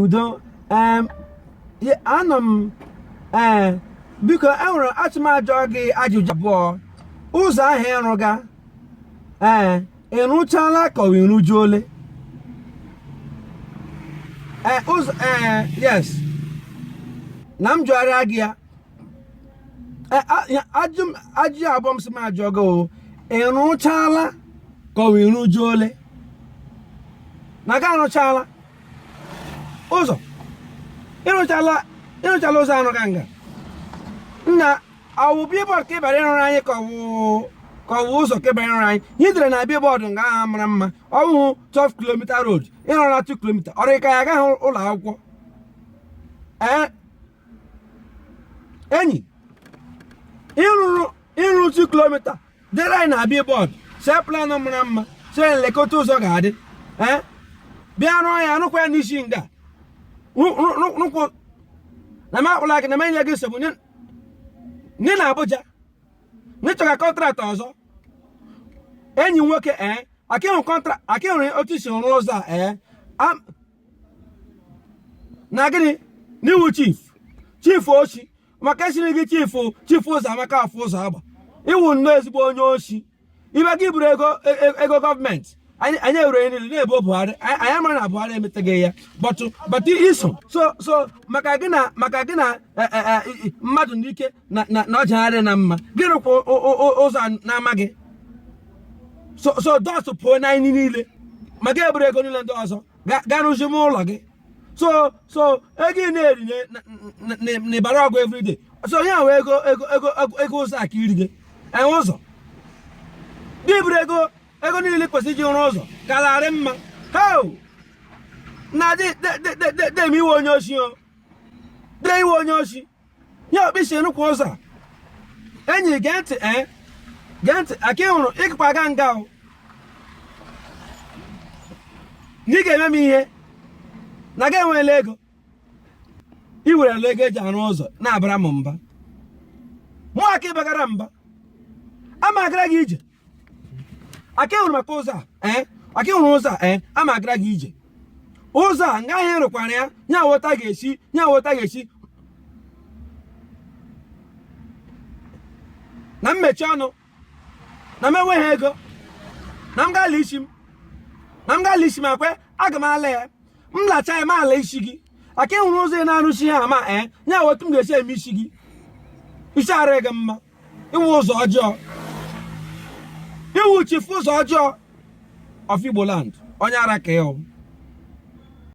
udo anọ m ee eh, biko enwere achọ m ịjụ gị ajụjụ abụọ ụzọ ahụ ị rụga ee eh, ị rụchala ka ọ ị rụju ole ee eh, ụzọ ee yes na m jụgharịa gị ya e, ajụ abụọ m sị m jụọ gị o ị rụchala ka ọ wụ ị rụju ole na gị arụchala ụzọ ịrụchala ịrụchala ụzọ anụ ka nga nna ọ wụ billboard ka ị bịara ịrụrụ anyị ka ọ wụ ka ọ bụ ụzọ ka ị bịara ịrụrụ anyị ihe e dere na billboard nga ahụ mara mma ọ bụghị 12 kilomita road ị rụrụ 2 kilomita ọ dị ka ị gaghị ụlọ akwụkwọ ee enyi ị rụrụ ị rụ otu kilomita dere anyị na billboard see plan mara mma sị lekwa otu ụzọ ga-adị ee bịa rụọ ya rụkwa ya n'isi nga Rụ- rụ- rụ- rụkwụ na m akpụla gị na m enye gị nsogbu na ị nọ na Abuja na ị chọga contract ọzọ enyi m nwoke ee akịhụ kọntra akịhụrụ otu isi rụọ ụzọ a ee Am- na gịnị na ị wụ chief chief oshi maka esiri gị chief chief ụzọ amaka afọ ụzọ agba ị wụ nnọọ ezigbo onye oshi ibe gị buru ego e, e, ego gọọmenti anyị ewere ihe niile na-ebo Buhari anyị amara na Buhari emetaghị ya but but i so so so maka gị na maka gị na e, mmadụ n'ike na ọjagharị na mma gị rụkwa ụzọ na-amaghị so so those people na anyị niile ma ga-eburu ego niile ndị ọzọ ga- ga rụzi m ụlọ gị so so ego ị na-eri na- na- na- na- n'Ibari Ogwa everyday so i were ego ego ego ego- ego ụzọ a ka iri gị enwe ụzọ gị buru ego ego niile kwesịrị iji rụọ ụzọ gaara adị mma ihe a na-adị dị- dị- dị- dị- dị m iwe onye oshi o dị iwe onye oshi ya okpisi rụkwa ụzọ a enyi gee ntị ee eh? gee ntị aka ị hụrụ ịkpa aga nga o na ị ga-eme m ihe na gị enweela ego ị werela ego eji arụ ụzọ na-abara m mba mụ aka ị bagara m mba ama agara gị ije aka ịhụrụ maka ụzọ a eh? aka ịhụrụ ụzọ a eh? a ma agara gị ije ụzọ a nga ahịa rụkwara ya nya awọta ga-esi nya awọta ga-esi na mmechi ọnụ na m enweghị ego na m gala isi m na m gala isi m akwe aga m ala ya m lacha ya m ala isi gị aka ịhụrụ ụzọ ị na-arụsi ha ma ee eh? nya awọta m ga-esi eme isi gị isi adịghị mma ị wụ ụzọ ọjọọ ị wụ chief ụzọ ọjọọ of Igboland onye ara ka ị wụ